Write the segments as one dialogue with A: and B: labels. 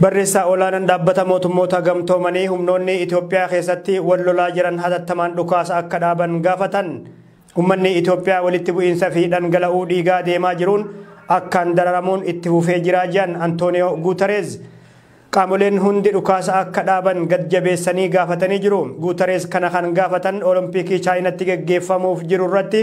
A: Barreessaa olaanaan dhaabbata mootummoota gamtoomanii humnoonni Itoophiyaa keessatti wal lolaa jiran hatattamaan dhukaasa akka dhaaban gaafatan. Ummanni Itoophiyaa walitti bu'iinsa fi dhangala'uu dhiigaa deemaa jiruun akkaan dararamuun itti fufee jira jedhan Antooniyoo Guutareez. Qaamoleen hundi dhukaasa akka dhaaban gad jabeessanii gaafatanii jiru. Guutareez kana kan gaafatan Olompikii Chaayinatti geggeeffamuuf jiru irratti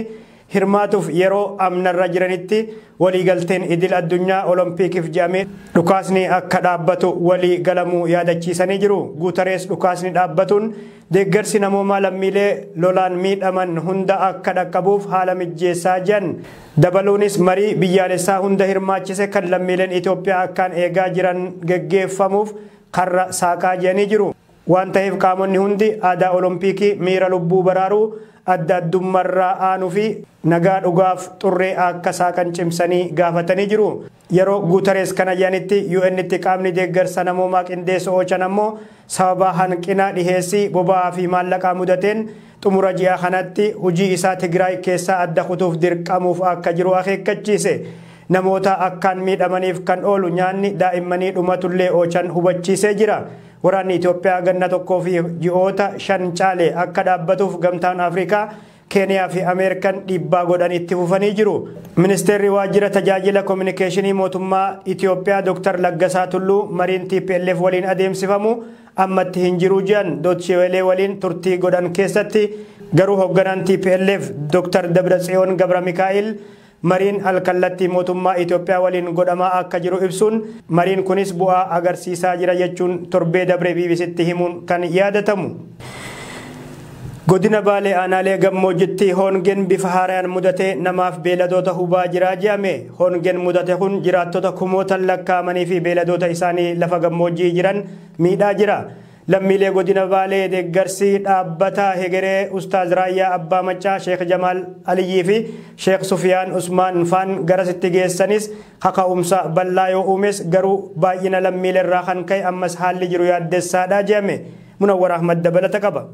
A: hirmaatuuf yeroo amnarra jiranitti walii galteen idil addunyaa olompiikif jedhamee dhukaasni akka dhaabbatu walii galamuu yaadachiisanii jiru. Guutarees dhukaasni dhaabbatuun deeggarsi namoomaa lammiilee lolaan miidhaman hunda akka dhaqqabuuf haala mijjeessaa jedhan. Dabaluunis marii biyyaalessaa hunda hirmaachise kan lammiileen Itoophiyaa akkaan eegaa jiran geggeeffamuuf karra saaqaa jedhanii jiru. Waan taheef qaamonni hundi aadaa Olompiikii miira lubbuu baraaruu, adda addummarraa aanu fi nagaa dhugaaf xurree akka saaqan cimsanii gaafatanii jiru. Yeroo Guutarees kana je'anitti UN'tti qaamni deeggarsa namoomaa qindeessu Ochan ammoo sababaa hanqina dhiheessii boba'aa fi maallaqaa mudateen xumura ji'aa kanatti hujii isaa Tigraay keessaa adda kutuuf dirqamuuf akka jiru akeekkachiise. Namoota akkaan miidhamaniif kan oolu nyaanni daa'immanii dhumatullee Ochan hubachiisee jira. Waraanni Itoophiyaa ganna tokkoo fi ji'oota shan caale akka dhaabbatuuf Gamtaan Afrikaa, Keeniyaa fi Ameerikan dhiibbaa godhan itti fufanii jiru. Ministeerri Waajjira Tajaajila Kominikeeshinii Mootummaa Itoophiyaa Dr. Laggasaa Tulluu mariin tplf waliin adeemsifamu ammatti hin jiru jedhan Doche Wele waliin turtii godhan keessatti. Garuu hogganaan tplf Dr. Dabratsiyoon Gabramikaa'il Mariin al-kallattii mootummaa Itoophiyaa waliin godhamaa akka jiru ibsuun, mariin kunis bu'aa agarsiisaa jira jechuun torbee dabre BBCtti himuun kan yaadatamu. Godina Baalee Aanaalee Gammoojjitti hoongeen bifa haarayaan mudatee namaaf beeladoota hubaa jira je'ame. Hoongeen mudate kun jiraattota kumootan lakkaa'amaniifi beeladoota isaanii lafa gammoojji'ii jiran miidhaa jira. Lammiilee Godina Baalee deeggarsi Dhaabbata Hegeree Ustaaz Raayyaa Abbaa Maccaa Sheekh Jamaal Aliyyii fi Sheekh Sufiyaan Usmaan faan garasitti geessanis kaka'umsa bal'aa yoo uumes garuu baay'ina lammiilerraa kan ka'e ammas haalli jiru yaaddessaadha jedhame. Munawwar Ahmad dabalata qaba.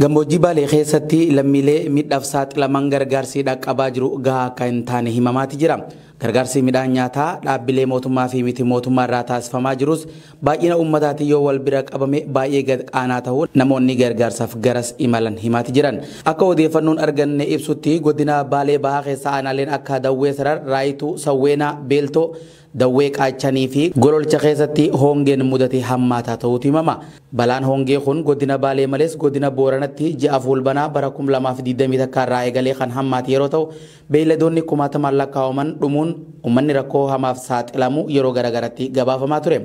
A: Gammoojjii
B: Baalee keessatti lammiilee miidhaaf saaxilaman gargaarsi dhaqqabaa jiru gahaa akka hin taane himamaati jira. Gargaarsi midhaan nyaataa dhaabbilee mootummaa fi miti mootummaa irraa taasifamaa jirus baay'ina uummataatiin yoo wal bira qabame baay'ee gad aanaa ta'uu namoonni gargaarsaaf garas imalan himaati jiran. Akka odeeffannoon arganne ibsutti godina Baalee Bahaa keessa aanaaleen akka Dawwee Sarar, Raayituu, Sawweenaa, Beeltoo, Dawwee Qaachanii fi Gololcha keessatti hoongeen mudate hammaataa ta'uutu himama. Balaan hoongee kun Godina Baalee malees Godina Booranatti ji'a Fuulbanaa bara 2020 takkaa irraa eegalee kan hammaate yeroo ta'u, beeyladoonni kumaatamaan lakkaa'aman dhumuun ummanni rakkoo hamaaf saaxilamuu yeroo garagaratti gabaafamaa ture.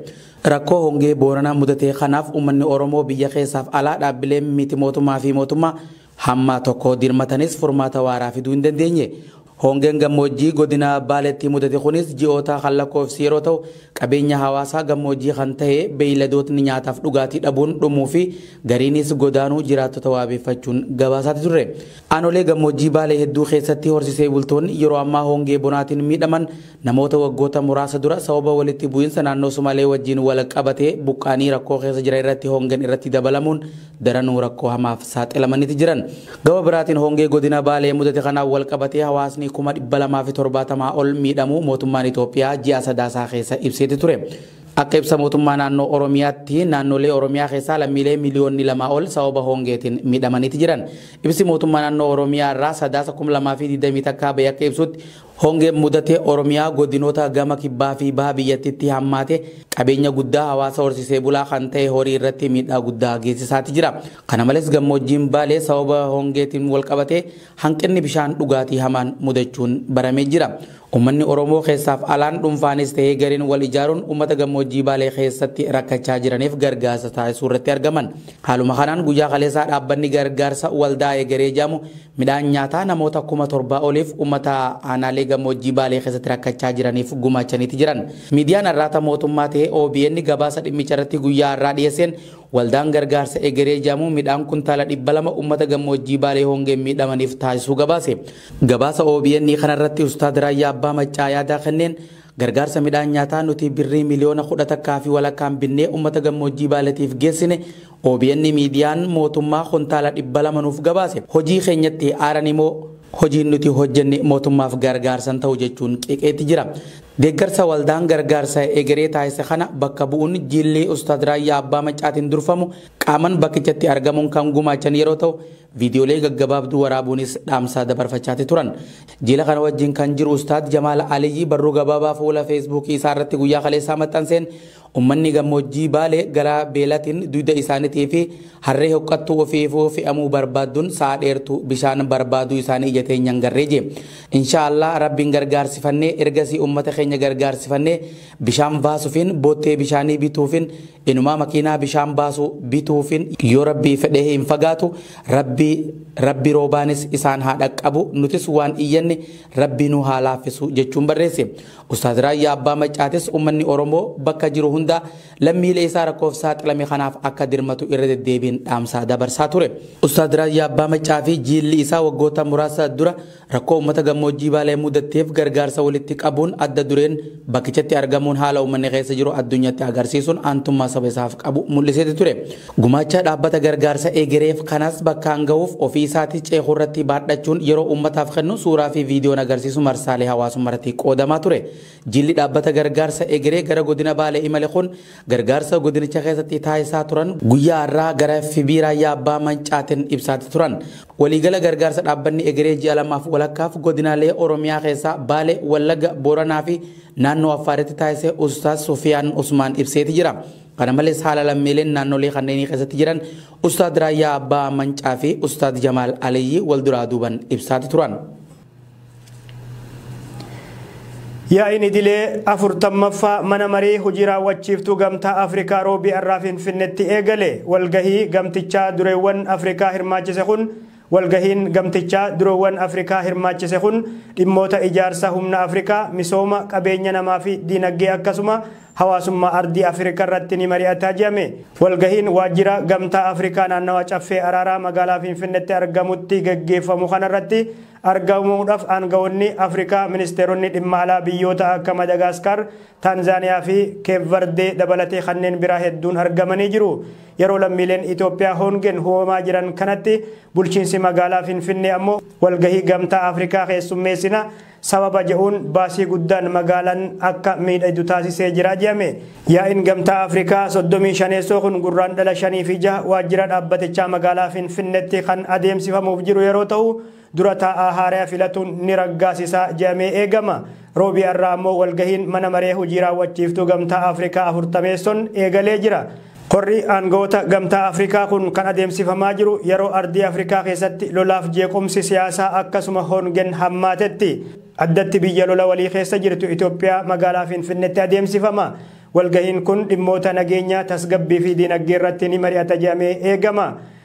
B: Rakkoo hoongee Booranaa mudate kanaaf ummanni Oromoo biyya keessaaf alaa dhaabbileen miti mootummaa fi mootummaa Hamma tokko dirmatanis furmaata waaraa fiduu hin dandeenye. Hongeen gammoojjii godina Baaleetti mudate kunis ji'oota kan lakkoofsi yeroo ta'u, qabeenya hawaasaa gammoojjii kan ta'e beeyladootni nyaataaf dhugaatii dhabuun dhumuu fi gariinis godaanuu jiraattota waabeeffachuun gabaasaati turre. Aanolee gammoojjii Baalee hedduu keessatti horsisee bultoonni yeroo ammaa hongee bonaatiin miidhaman Namoota waggoota muraasa dura sababa walitti bu'iinsa naannoo Sumaalee wajjiin wal qabatee buqqa'anii rakkoo keessa jiran irratti hoongeen irratti dabalamuun daranuu rakkoo hamaaf saaxilamaniti jiran. Gama biraatiin hoongee godina Baalee mudate kanaan wal qabatee hawaasni kuma 270 ol miidhamuu mootummaan Itoophiyaa ji'a Sadaasaa keessa ibseeti ture. Akka ibsa mootummaa naannoo Oromiyaatti naannolee Oromiyaa keessaa lammiilee miliyoonni 2 ol sababa hoongeetiin miidhamaniti jiran. Ibsi mootummaa naannoo Oromiyaa irraa Sadaasa 2020 takkaa ba'e akka ibsutti Hongeen mudate Oromiyaa godinoota gama kibbaa fi baha biyyattiitti hammaate qabeenya guddaa hawaasa horsiisee bulaa kan ta'e horii irratti miidhaa guddaa geessisaati jira. Kana malees gammoojjiin Baalee sababa hongeetiin walqabatee hanqinni bishaan dhugaatii hamaan mudachuun baramee jira. Uummanni Oromoo keessaaf alaan dhuunfaanis ta'ee gareen wal ijaaruun uummata gammoojjii Baalee keessatti rakkachaa jiraniif gargaarsa taasisuu irratti argaman. Haaluma kanaan guyyaa kaleessaa dhaabbanni gargaarsa Waldaa Egeree jedhamu Midhaan nyaataa namoota kuma 7 oliif ummata aanaalee gammoojjii Baalee keessatti rakkachaa jiraniif gumaachaniiti jiran. Miidiyaan Arraata mootummaa tahe obn gabaasa dhimmicha irratti guyyaa har'aa dhiyeesseen waldaan gargaarsa Egeree jedhamu midhaan kuntaala 200 ummata gammoojjii Baalee hongeen miidhamaniif taasisuu gabaase. Gabaasa obn kana irratti Ustaad Raayyaa Abbaa Maccaa yaada kenneen gargaarsa midhaan nyaataa nuti birrii miliyoona 10 takkaa fi walakkaan binnee ummata gammoojjii Baaleetiif geessine OBN miidiyaan mootummaa kuntaala 200 nuuf gabaase hojii keenyatti aaranii moo hojiin nuti hojjenne mootummaaf gargaarsa hin ta'u jechuun qeeqeeti jira. Deeggarsa waldaan gargaarsa egeree taasise kana bakka bu'uun jiilli Ustaaz Raayyaa Abbaa Maccaatiin durfamu qaaman bakkichatti argamuun kan gumaachan yeroo ta'u, Viidiyoolee gaggabaabduu waraabuunis dhaamsa dabarfachaati turan. Jila kana wajjin kan jiru Ustaaz Jamaal Aliyyi barruu gabaabaa fuula Feesbuukii isaa irratti guyyaa kaleessaa maxxanseen ummanni gammoojjii Baalee gara beelatiin duyda isaanitii fi harree hoqqattuu ofiifuu fe'amuu barbaaddun sa'a dheertuu bishaan barbaaduu isaanii ija teenyaan garree jee. Inshaa Allah Rabbiin gargaarsifannee ergasii ummata keenya gargaarsifannee bishaan vaasufiin boottee bishaanii bituufin Inumaa makiinaa bishaan baasu bituufin yoo rabbii fedhee hin fagaatu rabbii rabbi roobaanis isaan haa dhaqqabu nutis waan iyyanne rabbii nu haa laaffisu jechuun barreesse. Ustaaz Raayyaa Abbaa Maccaatis ummanni Oromoo bakka jiru hundaa lammiilee isaa rakkoof saaxilame kanaaf akka dirmatu irra deddeebiin dhaamsa dabarsaa ture. Ustaaz Raayyaa Abbaa Maccaa fi jiilli isaa waggoota muraasa dura Rakkoo ummata gammoojjii Baalee mudatteef gargaarsa walitti qabuun adda dureen bakkichatti argamuun haala ummanni keessa jiru addunyatti agarsiisuun aantummaa saba isaaf qabu mul'iseeti ture. Gumaacha dhaabbata gargaarsa egereef kanas bakkaan gahuuf ofii isaatii ceekurratti baadhachuun yeroo ummataaf kennu suuraa fi viidiyoon agarsiisu marsaalee hawaasummarratti qoodamaa ture. Jilli dhaabbata gargaarsa egeree gara godina Baalee imale kun gargaarsa godinicha keessatti taasisaa turan guyyaa har'aa gara FB Raayyaa Abbaa Mancaatiin ibsaati turan. Waliigala gargaarsa dhaabbanni egeree ji'a lamaaf walakkaaf godinaalee Oromiyaa keessaa Baale, Wallagga, Booranaa fi naannoo Affaaritti taasise Ustaaz Sufiyaan Usmaan ibseeti jira. Kana malees haala lammiileen naannolee kanneenii keessatti jiran Ustaaz Raayyaa Abbaa Mancaa fi Ustaaz Jamaal Aliyyii wal duraa duuban ibsaati turan.
A: Yaa'iin idilee 40ffaa mana maree hojii raawwachiiftuu gamtaa Afrikaa roobii har'aa Finfinnetti eegale. Walgahii gamtichaa dureewwan Afrikaa hirmaachise kun Walgahiin gamtichaa dureewwan Afrikaa hirmaachise kun dhimmoota ijaarsa humna Afrikaa, misooma, qabeenya namaa fi diinagdee akkasuma Hawaasummaa Ardii Afirikaa irratti ni mari'ata jedhame. Walgahiin Waajjira Gamtaa Afrikaa Naannawa Caffee Araaraa Magaalaa Finfinneetti argamutti gaggeeffamu kana irratti argamuudhaaf aanga'oonni Afrikaa Ministeeronni Dhimma Alaa biyyoota akka Madagaaskaar, Taanzaaniyaa fi Keep Vardee dabalatee kanneen biraa hedduun argamanii jiru. Yeroo lammiileen Itoophiyaa hoongeen hubamaa jiran kanatti bulchiinsi magaalaa Finfinnee ammoo walgahii Gamtaa Afrikaa keessummeessina, sababa je'uun baasii guddaan magaalan akka miidhaydu taasisee jira je'ame. Yaa'iin Gamtaa Afrikaa 35ssoo kun Gurraandhala 5 fi 6 waajjira dhaabbatichaa magaalaa Finfinnetti kan adeemsifamuuf jiru yeroo ta'u, dura taa'aa haaraya filatuun ni raggaasisa je'amee eegama. Roobii arraa ammoo walgahiin mana maree hujii raawwachiiftuu Gamtaa Afrikaa 40ssonn eegalee jira. Korri aangawoota Gamtaa Afrikaa kun kan adeemsifamaa jiru yeroo ardii Afrikaa keessatti lolaaf jeequmsi siyaasaa akkasuma hongen hammaatetti. Addatti biyya lola walii keessa jirtu Itoophiyaa magaalaa Finfinnetti adeemsifama. Walgahiin kun dhimmoota nageenyaa, tasgabbii fi diinagdee irratti ni mari'ata jedhamee eegama.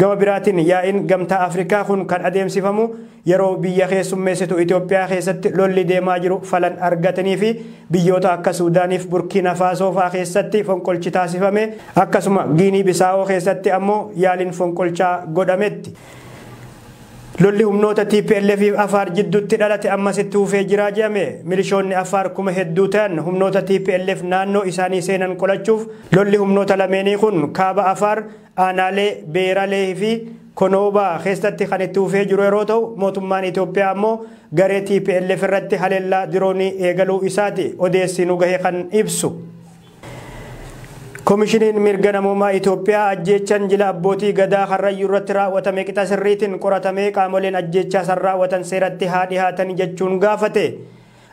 A: Gama biraatiin yaa'iin Gamtaa Afrikaa kun kan adeemsifamu yeroo biyya keessummeessitu Itoophiyaa keessatti lolli deemaa jiru falan argatanii fi biyyoota akka Suudaaniif Burkiina Faasoo fa'aa keessatti fonqolchi taasifame akkasuma Giinii Bisaawoo keessatti ammoo yaaliin fonqolchaa godhametti. Lolli humnoota TPLF fi Afaar jidduutti dhalate ammas itti fufee jira jedhame. Milishoonni Afaar kuma hedduu ta'an humnoota TPLF naannoo isaanii seenan qolachuuf lolli humnoota lameenii kun kaaba Afaar Aanaalee Beeralee fi Konoobaa keessatti kan itti fufee jiru yeroo ta'u, mootummaan Itoophiyaa ammoo garee tplf irratti haleellaa diroonii eegaluu isaati odeessi nu gahe kan ibsu. Komishiniin Mirga Namoomaa Itoophiyaa ajjeechan jila abbootii Gadaa Karrayyuu irratti raawwatame qixa sirriitiin qoratamee qaamoleen ajjeechaa san raawwatan seeratti haa dhihaatan jechuun gaafate.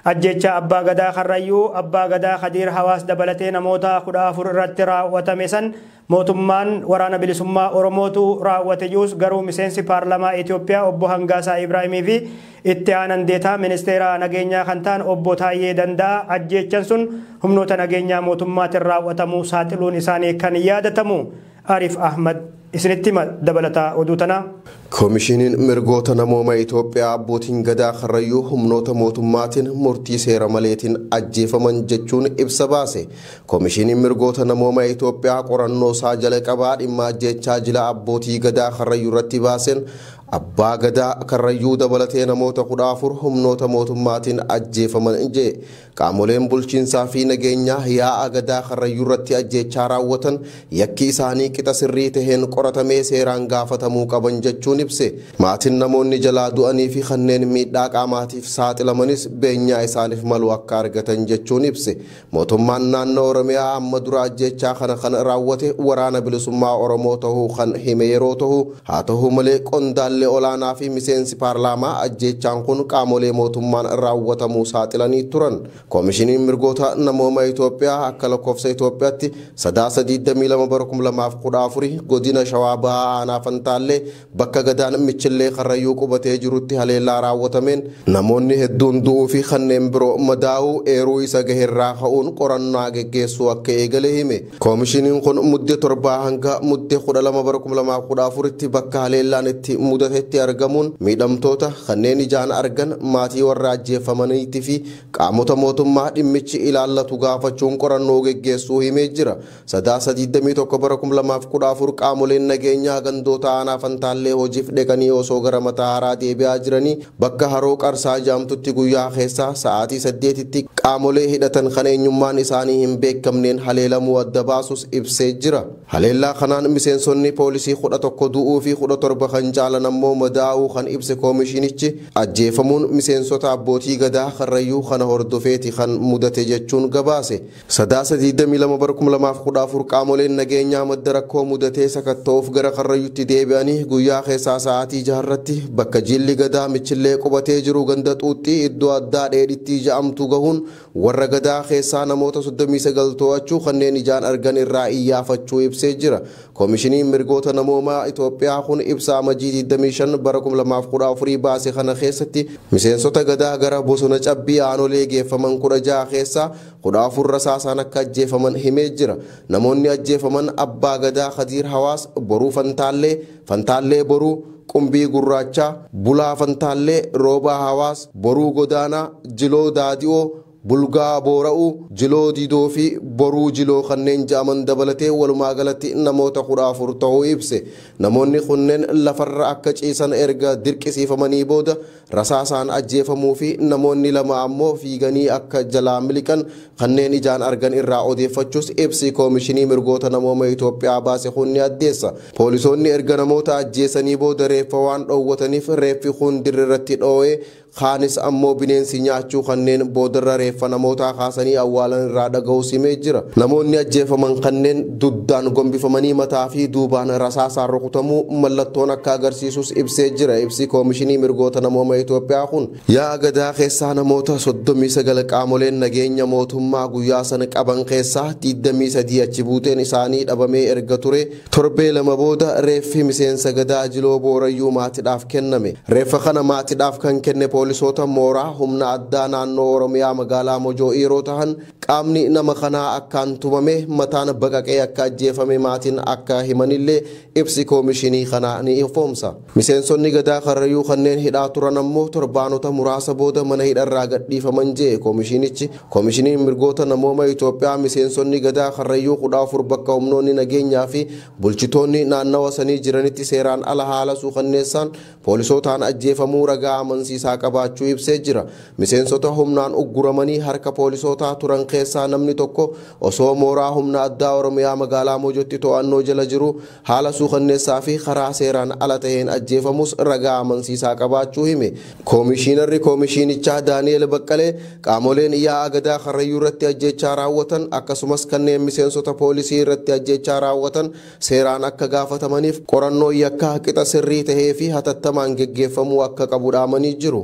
A: Ajjeechaa Abbaa Gadaa Karrayyuu, Abbaa Gadaa Kadiir Hawaas dabalatee namoota 14 irratti raawwatame san mootummaan Waraana Bilisummaa Oromootu raawwate jius garuu miseensi Paarlamaa Itoophiyaa Obbo Hangaasaa Ibraahimii fi Itti Aanan Deetaa Ministeera Nageenyaa kan ta'an Obbo Taayyee Danda'aa ajjeechan sun humnoota nageenyaa mootummaatin raawwatamuu saaxiluun isaanii kan yaadatamu. Arif Ahmad isinitti hima dabalata oduu tanaa. Komishiniin
C: Mirgoota Namooma Itoophiyaa Abbootiin Gadaa Karrayyuu humnoota mootummaatiin murtii seera maleetiin ajjeefaman jechuun ibsa baase. Komishiniin Mirgoota Namooma Itoophiyaa qorannoo isaa jalaqabaa dhimma ajjeechaa jila Abbootii Gadaa Karrayyuu irratti baaseen Abbaa Gadaa Karrayyuu dabalatee namoota 14 humnoota mootummaatiin ajjeefaman jedhe. Qaamoleen bulchiinsaa fi nageenyaa yaa'a Gadaa Karrayyuurratti ajjeechaa raawwatan yakki isaanii qixa sirrii taheen qoratamee seeraan gaafatamuu qaban jechuun ibse. Maatiin namoonni jalaa du'anii fi kanneen miidhaa qaamaatiif saaxilamanis beenyaa isaaniif malu akka argatan jechuun ibse. Mootummaan naannoo Oromiyaa amma dura ajjeechaa kana kan raawwate Waraana Bilisummaa Oromoo tahuu kan hime yeroo tahu, Haa tahu malee qondaalli olaanaa fi miseensi paarlaamaa ajjeechaan kun qaamolee mootummaan raawwatamuu saaxilanii turan. Komishiniin Mirgoota Namooma Itoophiyaa akka lakkoofsa Itoophiyaatti Sadaasa 22 bara 2014 godina Shawaa Bahaa aanaa Fantaallee bakka gadaan Michillee Karrayyuu qubatee jirutti haleellaa raawwatameen namoonni hedduun du'uu fi kanneen biroo madaa'uu eeruu isa gaherraa ka'uun qorannaa geggeessuu akka eegale hime. Koomishiniin kun Mudde 7 hanga Mudde 12 bara 2014tti bakka haleellaan itti mudatetti argamuun miidhamtoota, kanneen ijaan argan, maatii warra ajjeeffamaniitti fi qaamota mootummaa dhimmichi ilaallatu gaafachuun qorannoo geggeessuu himee jira. Sadaasa 21 bara 2014 qaamoleen nageenyaa gandoota aanaa Fantaallee hojiif dheqanii osoo gara Matahaaraa deebi'aa jiranii Bakka Haroo Qarsaa jaamtutti guyyaa keessaa sa'aatii 8tti qaamolee hidhatan kan eenyummaan isaanii hin beekamneen haleelamuu adda baasus ibsee jira. Haleellaa kanaan miseensonni poolisii 11 du'uu fi 17 kan caalan ammoo madaa'uu kan ibse Koomishiinichi, ajjeefamuun miseensota Abbootii Gadaa Karrayyuu kana hordofeeti kan mudate jechuun gabaase. Sadaasa 22 bara 2014 qaamoleen nageenyaa madda rakkoo mudatee sakatta'uuf gara Karrayyutti deebi'anii guyyaa keessaa sa'aatii 6 irratti bakka jiilli Gadaa Michillee qubatee jiru ganda Xuuxxii iddoo addaa Dheedhittii ja'amtu gahuun warra Gadaa keessaa namoota 39 too'achuu kanneen ijaan argan irraa iyyaafachuu ibsee jira. Komishiniin Mirgoota Namoomaa Itoophiyaa kun ibsa Amajjii 25 bara 2014 baase kana keessatti miseensota Gadaa gara bosona Cabbii aanolee geeffaman 16 keessaa 14 rasaasaan akka ajjeefaman himee jira. Namoonni ajjeefaman Abbaa Gadaa Kadiir Hawaas, Boruu Fantaallee, Fantaallee Boruu, Qumbii Gurraachaa, Bulaa Fantaallee, Roobaa Hawaas, Boruu Godaanaa, Jiloo Daadi'oo, Bulgaa Boora'uu, Jiloo Didoo fi Boruu Jiloo kanneen ja'aman dabalatee walumaa galatti namoota 14 ta'uu ibse. Namoonni kunneen lafarra akka ciisan erga dirqisiifamanii booda Rasaasaan ajjeefamuu fi namoonni lama ammoo fiiganii akka jalaa miliqan kanneen ijaan argan irraa odeeffachuus ibsi Koomishinii Mirgoota Namooma Itoophiyaa baase kun ni addeessa. Poolisoonni erga namoota ajjeesanii booda reeffa waan dhoowwataniif reeffi kuun dirre irratti dhoo'ee kaanis ammoo bineensi nyaachuu kanneen boodarra reeffa namootaa kaasanii awwaalan irraa dhaga'uus himee jira. Namoonni ajjeefaman kanneen Dugdaan gombifamanii mataa fi duubaan rasaasaan rukutamuu mallattoon akka agarsiisus ibsee jira ibsi Koomishinii Mirgoota Namooma Itoophiyaa kun. Yaa'a Gadaa keessaa namoota 39 qaamoleen nageenya mootummaa guyyaa sana qaban keessaa 23 achi buuteen isaanii dhabamee erga turee torbee lama booda reeffi miseensa Gadaa Jiloo Boorayyuu maatidhaaf kenname. Reeffa kana maatidhaaf kan kenne poolisoota mooraa humna addaa naannoo Oromiyaa magaalaa Mojoo yeroo tahan, Qaamni nama kanaa akkaan tumamee mataan baqaqee akka ajjeefame maatiin akka himanillee ibsi koomishinii kanaa ni ifoomsa. Miseensonni Gadaa Karrayyuu kanneen hidhaa turan ammoo torbaanota muraasa booda mana hidharraa gadhiifaman je'e koomishiinichi. Koomishiniin Mirgoota Namooma Itoophiyaa miseensonni Gadaa Karrayyuu 14 bakka humnoonni nageenyaa fi bulchitoonni naannawa sanii jiranitti seeraan ala haala suukanneessaan poolisootaan ajjeefamuu ragaa amansiisaa qabaachuu ibsee jira. Miseensota humnaan ugguramanii harka poolisootaa turan keessaa namni tokko osoo mooraa humna addaa Oromiyaa magaalaa Mojotti to'annoo jala jiruu haala suukanneessaa fi karaa seeraan ala taheen ajjeefamuus ragaa amansiisaa qabaachuu hime. Koomishiinarri koomishiinichaa Daani'eel Baqqalee qaamoleen yaa'a Gadaa Karrayyuu irratti ajjeechaa raawwatan akkasumas kanneen miseensota poolisii irratti ajjeechaa raawwatan seeraan akka gaafatamaniif qorannoon yakkaa qixa sirrii tahee fi hatattamaan geggeeffamuu akka qabu dhaamanii jiru.